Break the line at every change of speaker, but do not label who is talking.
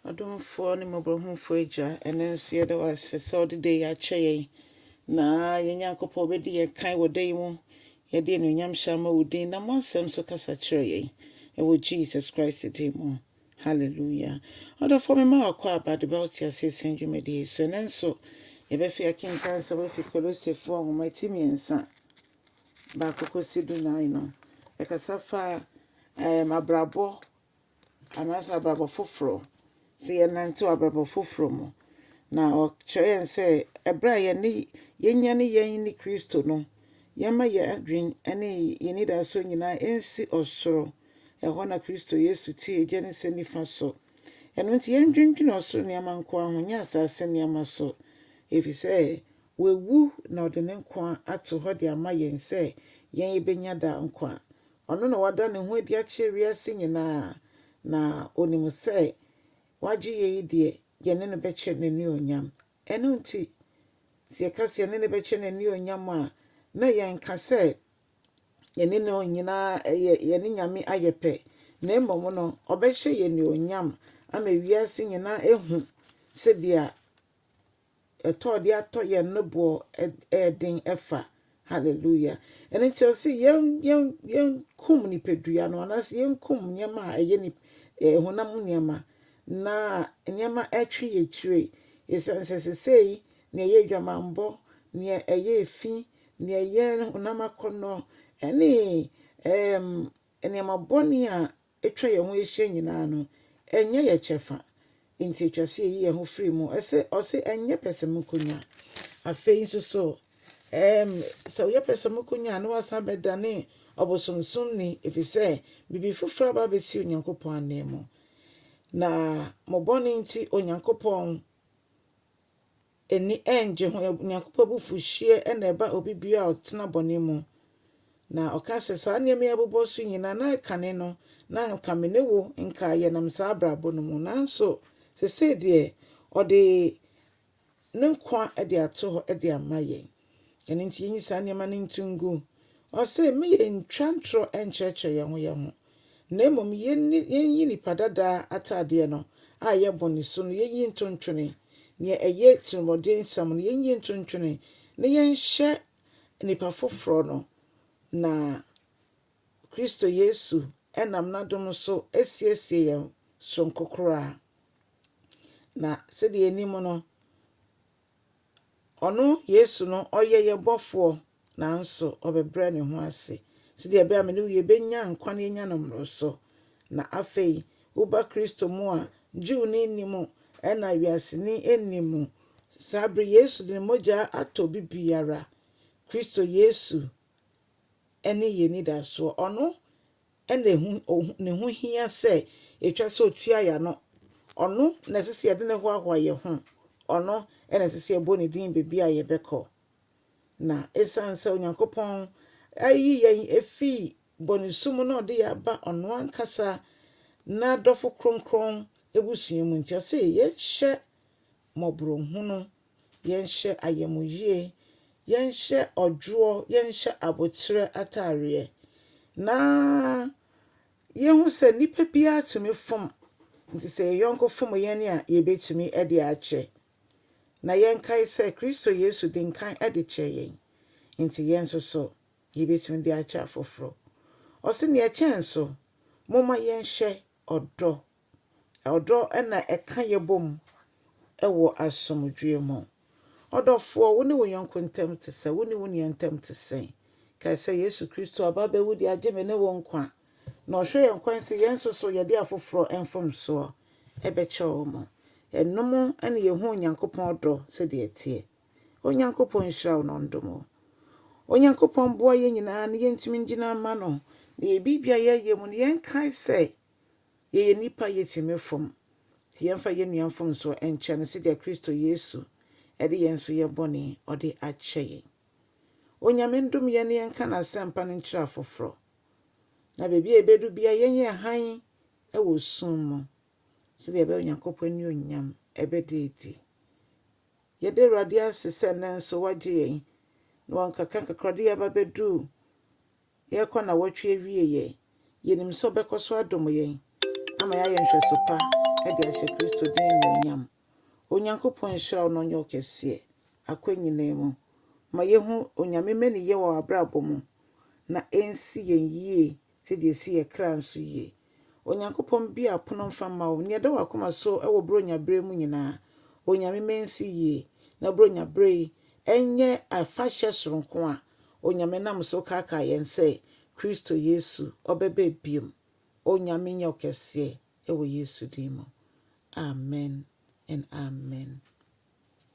Ɔdomfoɔ ne Mmɔborɔhunufoɔ Agya, ɛnnɛ nso yɛda wo ase sɛ wode da yi akyɛ yɛn, na yɛn Nyankopɔn wobɛdi yɛn kan wɔ da yi mu. Yɛde anuonyam hyɛ ama wo din. Nam w'asɛm so kasa kyerɛ yɛn, ɛwɔ Jesus Christ din mu. Hallelujah. Ɔdɔfoɔ mema wakɔ aba de ba wo teaseɛ sɛn dwumadie yi so. Ɛnnɛ nso yɛbɛfe akenkan nsɛm afi Kolosefoɔ nwoma ti mmiɛnsa baako kɔsi du nan no. Ɛkasa fa ɛɛm abrabɔ anaasɛ abrabɔ foforɔ, sɛ yɛnante wɔ abrabɔ foforɔ mu. Na ɔkyerɛ yɛn sɛ ɛberɛ a yɛne yɛnyane yɛn ne Kristo no, yɛmma yɛn adwene ne yɛn anidasoɔ nyinaa nsi ɔsoro. Ɛhɔ na Kristo Yesu te agya ne sɛ nifa so. Ɛno nti yɛndwendwene ɔsoro nneɛma nko ara ho, nyɛ asase nneɛma so. Ɛfiri sɛ wawu na ɔde ne nkwa ato hɔ de ama yɛn sɛ yɛn yɛbɛnya daa nkwa. Ɔno na wada ne ho adi akyerɛ wiase nyinaa, na onim sɛ w'agyeyɛ yi deɛ, yɛne no bɛkyɛ n'anuonyam. Ɛno nti, sɛ yɛka sɛ yɛne no bɛkyɛ n'anuonyam a, na yɛnka sɛ yɛne no nyinaa ɛyɛ yɛne Nyame ayɛ pɛ, na mmom no, ɔbɛhyɛ yɛn anuonyam ama wiase nyinaa ahu sɛdeɛ ɛtɔ de atɔ yɛn no boɔ yɛ den fa. Hallelujah. Ɛno nti ɛsɛ sɛ yɛn yɛn yɛnkum nipadua no anaasɛ yɛnkum nneɛma a ɛyɛ nip eh, honam mu nneɛma na nneɛma ɛtwe yɛ kyire. Ɛsiane sɛ sesei nea ɛyɛ adwamammɔ, nea ɛyɛ efi, nea ɛyɛ honam akɔnnɔ ɛne ɛɛm nneɛma bɔne a atwa yɛn ho ahyia nyinaa no, ɛnyɛ yɛn kyɛfa. Enti etwa sɛ yeyi yɛn ho firi mu. Ɛsɛ, ɔse, ɛnyɛ pɛsɛmenkominya. Afei nso so, ɛɛm, sɛ woyɛ pɛsɛmenkominya a, na woasan abɛdane ɔbosomsomni, efisɛ biribi foforo aba abesi Onyankopɔn ananmu. Na mo bɔne nti, Onyankopɔn. ani nnye ho. Onyankopɔn abufuhyeɛ na ɛba obi biara a ɔtena bɔne mu. Na ɔka sɛ, saa nneɛma yi abobɔ so nyinaa, na kane no, na anka me ne wo nka yɛnam saa abrabɔ no mu. Nanso seesei deɛ, ɔde ne nkwa de ato hɔ de ama yɛn. Ɛno nti yɛnyi saa nneɛma no nto ngu. Ɔse, me yɛntwa ntorɔ nkyerɛkyerɛ yɛn ho yɛn ho. na mmom yenni yenyi nnipa dada ataadeɛ no a ɛyɛ bɔne su no yenyi nto ntwene, nea ɛyɛ tirimɔdensɛm no yenyi nto ntwene na yɛnhyɛ nnipa foforɔ no, na Kristo Yesu nam n'adom so asiesie yɛn soronko koraa. Na sɛdeɛ yɛnim no, Ɔno, Yesu no, ɔyɛ yɛn Bɔfoɔ, nanso ɔbɛbrɛ ne ho ase, sɛdeɛ ɛbɛyɛ a me ne wo yɛbɛnya nkwa na yɛanya no mmoroso. Na afei, woba Kristo mu a, Jewni nni mu, ɛna wiaseni nni mu. Saa bere yi, Yesu de ne mogya atɔ obi biara. Kristo Yesu ne yɛn anidasoɔ. Ɔno na ehu ohu ne ho hia sɛ etwa sɛ otua yɛ ano. Ɔno na ɛsɛ sɛ yɛde no hoahoa yɛn ho. Ɔno na ɛsɛ sɛ yɛbɔ ne din baabi a yɛbɛkɔ. Na esiane sɛ Onyankopɔn ayi yɛn afi bɔnesu mu na ɔde yɛn aba ɔno ankasa n'adɔfo kronkron abusua mu nti, ɔse yɛnhyɛ mmɔborɔhunu Yɛnhyɛ ayamuyie, yɛnhyɛ ɔdwoɔ, yɛnhyɛ aboterɛ ataareɛ, na yɛhu sɛ nnipa biara tumi fom, nti sɛ yɛn yɔnko fom yɛn a, yɛbɛtumi de akyɛ. Na yɛnkae sɛ Kristo Yesu de nkan de kyɛɛ yɛn, nti yɛn nso so yɛbɛtumi de akyɛ afoforɔ. Ɔse nea ɛkyɛn so, momma yɛnhyɛ ɔdɔ. Ɔdɔ na ɛka yɛn bom wɔ asomdwoe mu. Ɔdɔfoɔ, wo ne wo yɔnko ntam te sɛ, wo ne wo nua ntam te sɛ. Kae sɛ Yesu Kristo aba abɛwu de agye me ne wo nkwa, na ɔhwɛ yɛn kwan sɛ yɛn nso so yɛde afoforɔ mfomsoɔ bɛkyɛ wɔn. Ɛnom na yɛhu Onyankopɔn ɔdɔ sɛdeɛ ɛteɛ. Onyankopɔn nhyira wo na ɔndom wo. Onyankopɔn boa yɛn nyinaa na yɛntumi ngyina mma no, na yɛn biribiara a yɛyɛ mu no yɛnkae sɛ Yɛyɛ nnipa, yɛtumi fom. Nti yɛmfa yɛn nua mfomsoɔ nkyɛ no sɛdeɛ Kristo Yesu de yɛn nso yɛ bɔne ɔde akyɛ yɛn. Onyame ndom yɛn na yɛnka N'asɛmpa no nkyerɛ afoforɔ. Na baabi a yɛbɛdu biara yɛnyɛ hann wɔ sum mu sɛdeɛ ɛbɛyɛ Onyankopɔn anuonyam bɛda adi. Yɛda Awurade ase sɛ nnɛ nso Wagye yɛn na wɔ nkakrankakra ɔde yɛn aba bɛduu yɛrekɔ nnawɔtwe awieeɛ. Yɛnim sɛ ɔbɛkɔ so adom yɛn ama yɛayɛ nhwɛso pa de ahyɛ Kristo din animuonyam. Onyankopɔn nhyira wo na ɔnyɛ wo kɛseɛ akwan nyinaa mu. Ma yɛhu Onyame mmaniyɛ wɔ w'abrabɔ mu na ɛnsi yɛn yie sɛdeɛ ɛsi yɛn kra nso yie. Onyankopɔn bue apono mfa mma wo. Nea ɛda w'akoma so wɔ Buronya bere mu nyinaa, Onyame ma ensi yie, na Buronya bere yi nyɛ afahyɛ soronko a Onyame nam so kaakae yɛn sɛ Kristo Yesu ɔbɛba bio. Onyame nyɛ wo kɛseɛ wɔ Yesu din mu. Amen and Amen.